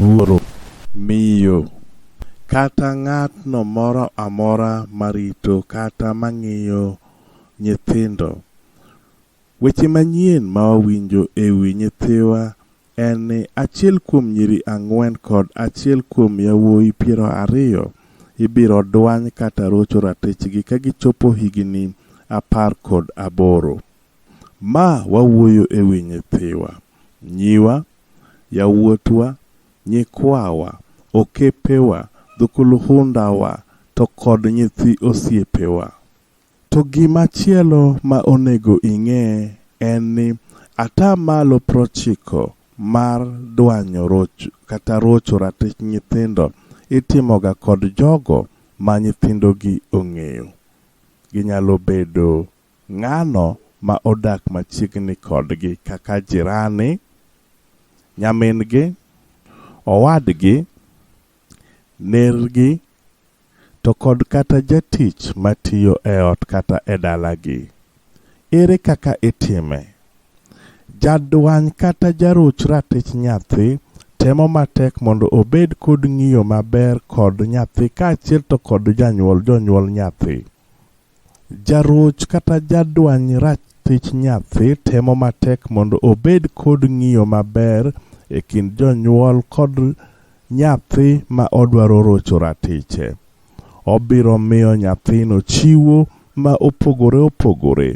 wuoro, miyo, kata ng'atno moro amora marito kata mang'iyo nyithindo Weche manyien ma wawinjo e wi nyithiwa en ni achiel kuom nyiri ang'wen kod achiel kuom yawuoyi piero ariyo ibiro dwany kata rocho ratichgi ka gichopo higini apar kod aboro. Ma wawuoyo e wi nyithiwa, nyiwa, yawuotwa, nyikwawa, okepewa, dhukuluhundawa to kod nyithi osiepewa. To gima chielo ma onego ing'e en ni ata malo prochiko mar dwanyo roch kata rocho ratich nyithindo itimoga kod jogo ma nyithindogi ong'eyo. Ginyalo bedo ng'ano ma odak machiegni kodgi kaka jirani, nyamin-gi, owadgi, Nergi, to kod kata jatich matiyo e ot kata e dalagi. Ere kaka itime? Jadwany kata jaruch ratich nyathi temo matek mondo obed kod ng'iyo maber kod nyathi kaachiel to kod janyuol, jonyuol nyathi. Jaroch kata jadwany ratich nyathi temo matek mondo obed kod ng'iyo maber e kind jonyuol kod nyathi ma odwaro rocho ratiche. Obiro miyo nyathino chiwo ma opogore opogore.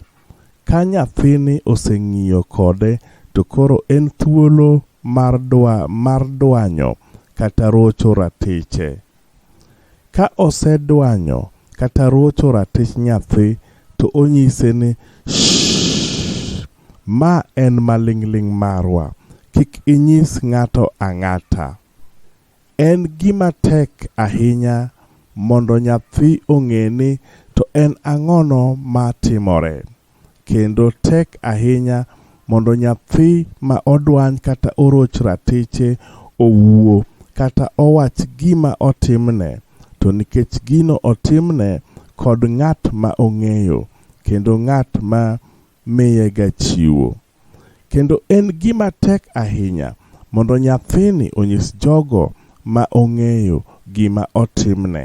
Ka nyathini oseng'iyo kode to koro en thuolo mar dwanyo kata rocho ratiche. Ka osedwanyo kata ruocho ratich nyathi to onyise ni, Shh! Ma en maling'ling' marwa, kik inyis ng'ato ang'ata. En gima tek ahinya mondo nyathi ong'e ni to en ang'ono ma timore. kendo tek ahinya mondo nyathi ma odwany kata oroch ratiche owuo kata owach gima otimne, to nikech gino otimne kod ng'at ma ong'eyo kendo ng'at ma miyega chiwo. Kendo en gima tek ahinya mondo nyathini onyis jogo ma ong'eyo gima otimne.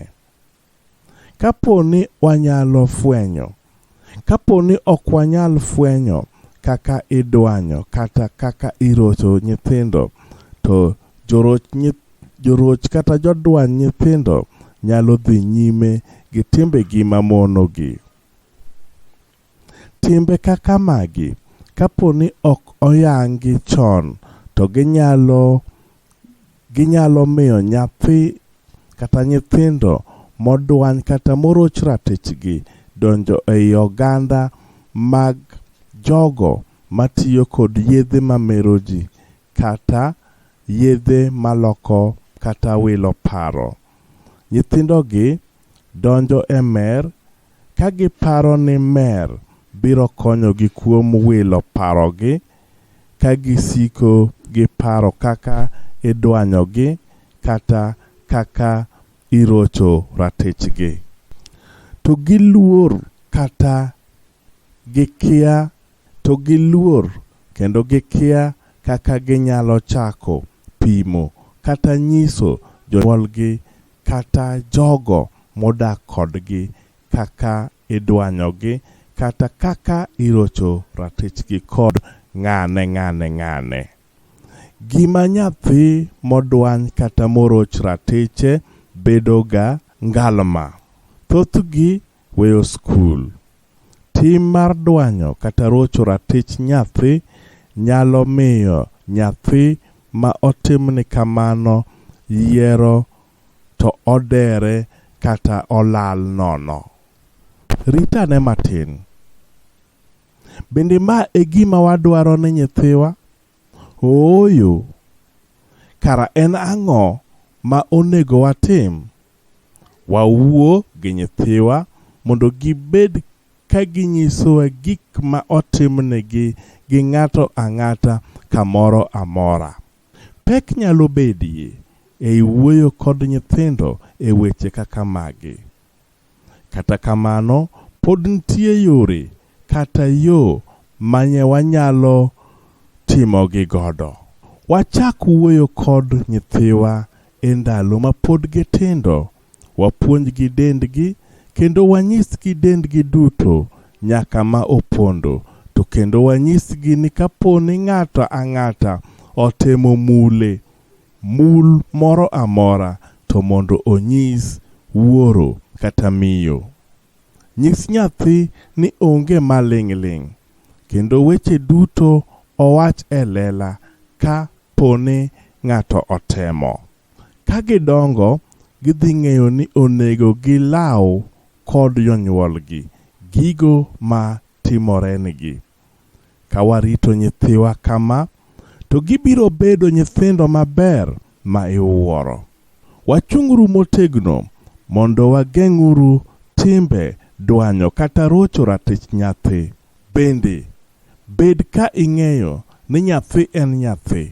Kapo ni wanyalo fwenyo. Kapo ni ok wanyal fwenyo kaka idwanyo kata kaka irocho nyithindo, to joroch, joroch kata jodwany nyithindo nyalo dhi nyime gi timbegi mamonogi. Timbe kaka magi, kapo ni ok oyangi chon, to ginyalo ginyalo miyo nyathi kata nyithindo modwany kata moroch ratichgi donjo ei oganda mag jogo matiyo kod yedhe mamero ji kata yedhe maloko kata wilo paro. Nyithindogi donjo e mer ka giparo ni mer biro konyogi kuom wilo parogi ka gisiko gi paro kaka idwanyogi kata kaka irocho ratichgi. To giluor kata Gikia to giluor kendo gikia kaka ginyalo chako pimo kata nyiso jonyuolgi kata jogo modak kodgi kaka idwanyogi kata kaka irocho ratichgi kod ng'ane ng'ane ng'ane. Gima nyathi modwany kata moroch ratiche bedoga ngalma. Thothgi Weyo skul. Tim mar dwanyo kata rocho ratich nyathi nyalo miyo nyathi ma otimni kamano yiero to odere kata olal nono. Rit ane matin. Bende ma e gima wadwaro ne nyithiwa? Ooyo! Kara en ang'o ma onego watim? Wawuo gi nyithiwa mondo gibed ka ginyisowa gik ma otimnegi gi ng'ato ang'ata kamoro amora. Pek nyalo bedie ei wuoyo kod nyithindo e weche kaka magi. Kata kamano, pod nitie yore kata yo manye wanyalo timogi godo. Wachak wuoyo kod nyithiwa e ndalo ma pod gitindo, wapuonjgi dendgi kendo wanyisgi dendgi duto nyaka ma opondo, to kendo wanyisgi ni kaponi ng'ato ang'ata otemo mule Mul moro amora to mondo onyis wuoro kata miyo. Nyis nyathi ni onge maling' ling' kendo weche duto owach e lela ka po ni ng'ato otemo. Ka gidongo, gidhi ng'eyo ni onego gilaw kod jonyuolgi gigo ma timorenigi. Ka warito nyithiwa kama, to gibiro bedo nyithindo maber ma iwuoro. Wachung'uru motegno mondo wageng'uru timbe dwanyo kata rocho ratich nyathi. Bende, bed ka ing'eyo ni nyathi en nyathi,